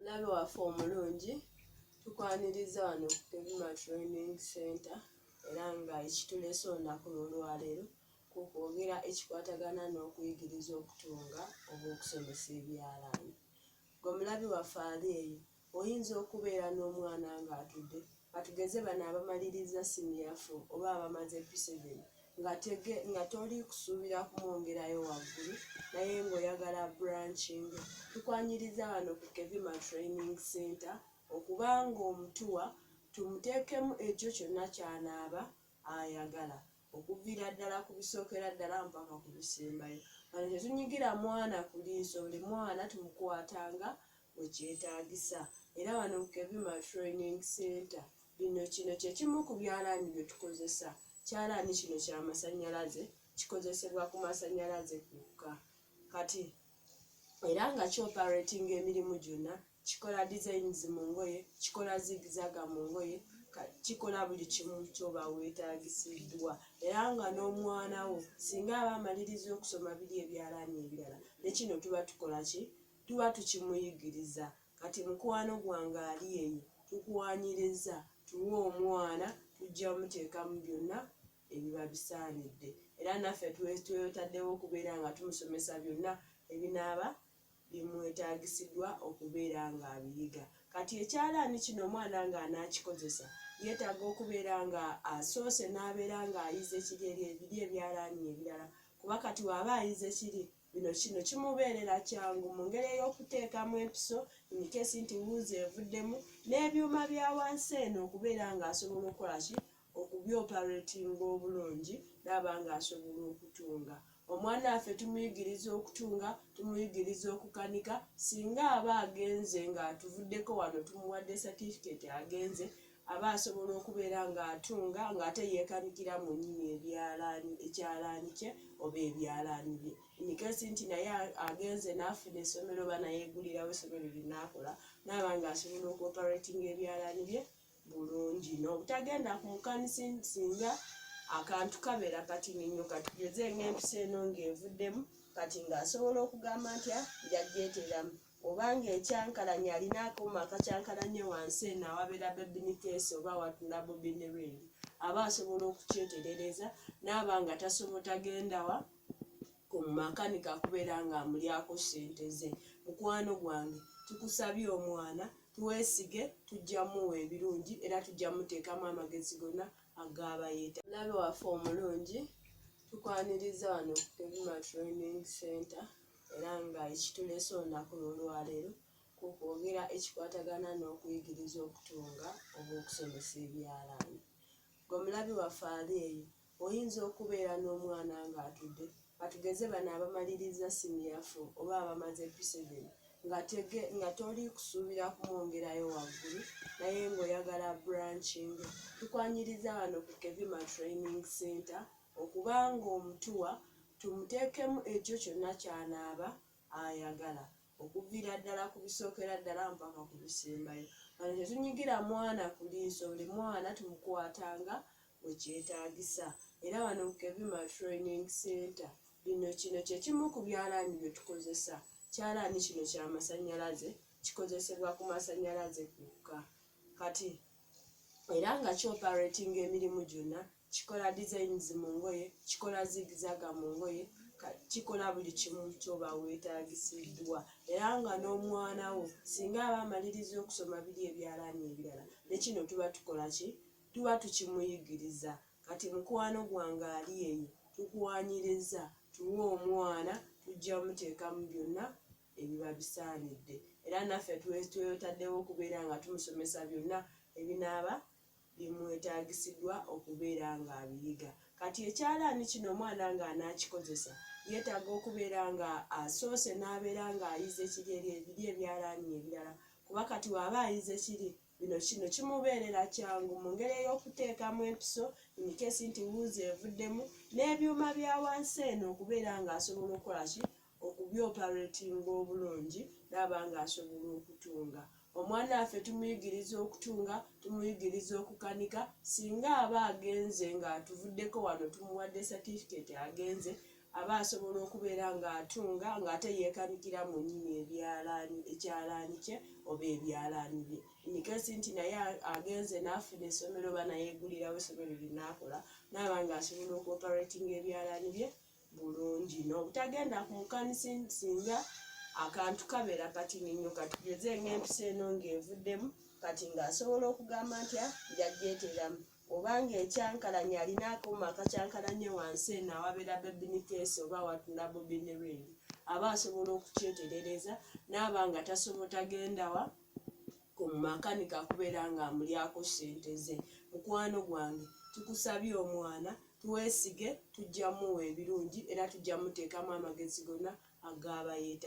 Mulabe waffe omulungi tukwaniriza wano ku Kevima Training Center era nga ekitulese olunaku lw'olwaleero ku kwogera ekikwatagana n'okuyigiriza okutunga oba okusomesa ebyalaani. Gwe mulabi waffe ali eyo oyinza okubeera n'omwana ng'atudde Katugeze bano abamaliriza siniya fo oba abamaze P7 nga toli kusuubira kumwongerayo waggulu naye ng'oyagala abrancinge, tukwaniriza wano ku Kevima Training Center okuba ng'omutuwa tumuteekemu ekyo kyonna ky'anaaba ayagala okuviira ddala ku bisookera ddala mpaka ku bisembayo. Wano tetunyigira mwana ku liiso, buli mwana tumukwatanga bwe kyetaagisa era wano mu Kevima Training Center bino kino kye kimu ku byalaani bye tukozesa. Kyalaani kino kya masannyalaze, kikozesebwa ku masannyalaze kwokka. Kati era nga kyoperatinga emirimu gyonna kikola designs mu ngoye kikola zigizaga mu ngoye kikola buli kimu kyoba weetagisiddwa era nga n'omwana wo singa aba amaliriza okusoma biri ebyalaani ebirala ne kino tuba tukola ki tuba tukimuyigiriza kati mukwano gwange ali eyo tukuwanyiriza tuwe omwana tujja muteekamu byonna ebiba bisaanidde era naffe twetaddewo okubeera nga tumusomesa byonna ebinaaba bimwetaagisiddwa okubeera ng'abiyiga kati ekyalaani kino omwana ng'anaakikozesa yeetaaga okubeera nga asoose n'abeera ng'ayize kiri eri ebiri ebyalaani ebirala kuba kati waaba ayize kiri Bino kino kimubeerera kyangu mu ngeri ey'okuteekamu empiso imikeesi nti wuuzi evuddemu n'ebyuma bya wansi eno okubeera ng'asobola okukola ki okubyoparatinga obulungi n'aba ng'asobola okutunga. Omwana waffe tumuyigiriza okutunga, tumuyigiriza okukanika singa aba agenze ng'atuvuddeko wano tumuwadde satifiketi agenze aba asobola okubeera ng'atunga ng'ate yeekabigira mu nnyini ebyalaani ekyalaani kye oba ebyalaani bye inikesi nti naye agenze n'afuna essomero oba nayeegulirawo essomero linaakola naaba ng'asobola okuoperatinga ebyalaani bye bulungi n'obutagenda ku mukanisi singa akantu kabeera katini nnyo katugeze ng'empisa eno ng'evuddemu kati ng'asobola okugamba ntya njagyeteeramu oba ng'ekyankalanya alina akuuma akakyankalanya wansi eno awabeera bebini keesi oba watula bobini ringi aba asobola okukyeterereza naaba nga tasobo tagendawa ku makanika kubeera nga amulyako sente ze mukwano gwange tukusabye omwana tuwesige tujja muwa ebirungi era tujja muteekamu amagezi gona agaabayeeta labe waffe omulungi tukwaniriza wano ku pevima training center era nga ekituleese olunaku lw'olwaleero kwe kwogera ekikwatagana n'okuyigiriza okutunga oba okusomesa ebyalaani. Gwe mulabi waffe ali eyo, oyinza okubeera n'omwana ng'atudde katugeze bano abamalirizza siniya fo oba abamaze piseveni nga toli kusuubira kumwongerayo waggulu naye ng'oyagala branching. Tukwanyiriza wano ku Kevima Training Center okuba ng'omutuwa tumuteekemu ekyo kyonna ky'anaaba ayagala okuviira ddala ku bisookera ddala mpaka ku bisembayo. Wano tetunyigira mwana ku liiso, buli mwana tumukwatanga bwe kyetaagisa era wano ku Kevima Training Center bino kino kye kimu ku byalaani bye tukozesa. Kyalaani kino kya masannyalaze, kikozesebwa ku masannyalaze gokka kati era nga ki-operatinga emirimu gyonna kikola designs mu ngoye kikola zigizaga mu ngoye kikola buli kimu kyoba wetagisiddwa era nga n'omwana wo singa aba amaliriza okusoma biri ebyalaani ebirala ne kino tuba tukola ki tuba tukimuyigiriza kati mukwano gwange ali eyo tukuwanyiriza tuwe omwana tujja muteekamu byonna ebiba bisaanidde era naffe twetwetaddewo okubeera nga tumusomesa byonna ebinaaba bye mwetagisidwa okubeera nga abiyiga. Kati ekyalaani kino omwana nga anaakikozesa yeetaga okubeera nga asoose n'abeera nga ayize ekiri eri ebiri ebyalaani ebirala kuba kati waba ayize ekiri bino kino kimubeerera kyangu mu ngeri ey'okuteekamu empiso imikesi nti wuuzi evuddemu n'ebyuma bya wansi eno okubeera nga asobola okukola ki okubyoperatinga obulungi naaba nga asobola okutunga. Omwana waffe tumuyigiriza okutunga, tumuyigiriza okukanika, singa aba agenze nga atuvuddeko wano tumuwadde certificate agenze aba asobola okubeera nga atunga nga ate yekanikira mu nyini ebyalaani ekyalaani kye oba ebyalaani bye nikesi nti naye agenze nafuna esomero oba nayegulirawo esomero linakola naaba nga asobola okuoperatinga ebyalaani bye bulungi n'obutagenda ku mukanisa singa akantu kabeera katini nnyo katugeze ng'empisa eno ng'evuddemu kati ng'asobola okugamba nti ah, njagyeteeramu oba ng'ekyankalanya alina akuuma akakyankalanye wansi eno awabeera bebinikeesi oba watuna bobiniring aba asobola okukyeterereza naaba nga tasobotagendawa komumakanika kubera nga amulyako sente ze mukwano gwange tukusabye omwana tuwesige tujja muwa ebirungi era tujja mutekamu amagezi gona agabayeta.